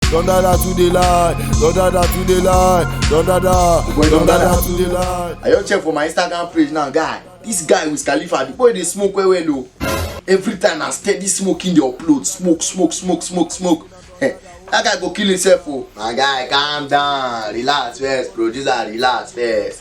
Don dada to the line, don dada to the line, don dada, Boy, don don dada dada. to the line. I just check for my Instagram page now, guy. This guy with Khalifa, the boy dey smoke well well o. Every time na steady smoking dey upload, smoke, smoke, smoke, smoke, smoke. Eh, that guy go kill himself o. My guy, calm down, relax first, producer, relax first.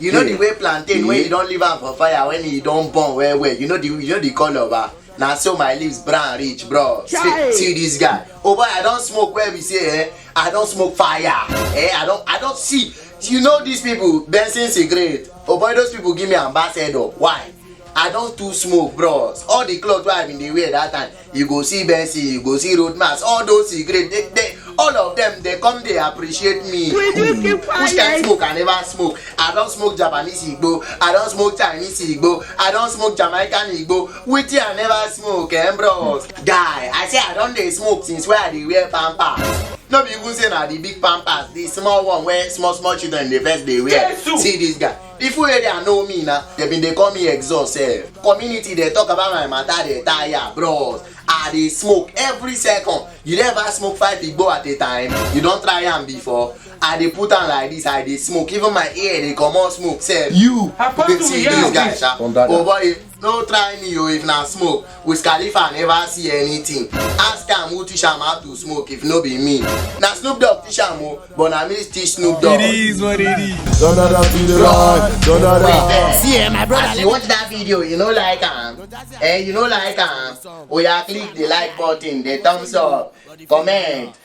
you know the way plantain wey you don leave am for fire when e don burn well well you know the you know the colour ba na so my lips brown reach bro see, see this guy oh boy i don smoke well be say eh i don smoke fire eh i don i don see you know these people benson cigarette oh boy those people give me ambassador why i don too smoke bros all the cloth wey i bin dey wear that time you go see Bessie, you go see Roadmas, all those cigarettes, they, they, all of them, they come, they appreciate me. Will you keep quiet? Which kind smoke I never smoke? I don't smoke Japanese Igbo, I don't smoke Chinese Igbo, I don't smoke Jamaican Igbo, which I never smoke, eh, bro? Guy, I say I don't they smoke since where they wear pampers. no be even say na the big pampers the small one wey small small children dey first dey wear see this guy People wey dey know me na, they been dey call me exhaust sef. Community dey talk about my matter dey tire bros. I dey smoke every second. You don ever smoke five igbo at a time? You don try am before? I dey put am like this, I dey smoke. Even my ear dey comot smoke sef. You, Apart you from dey see this reality. guy sha. From dada. Oh boy, no try me o if na smoke wiz khalifa never see anything ask am who teach am how to smoke if no be me na snoop dogg teach am o but na me teach snoop dogg. It is what it is. Don't know that be the run. Don't know Wait that. there. See, eh, my brother, As you watch that video, you know like am. Eh, you know like am. Oya click the like button, the thumbs up, comment.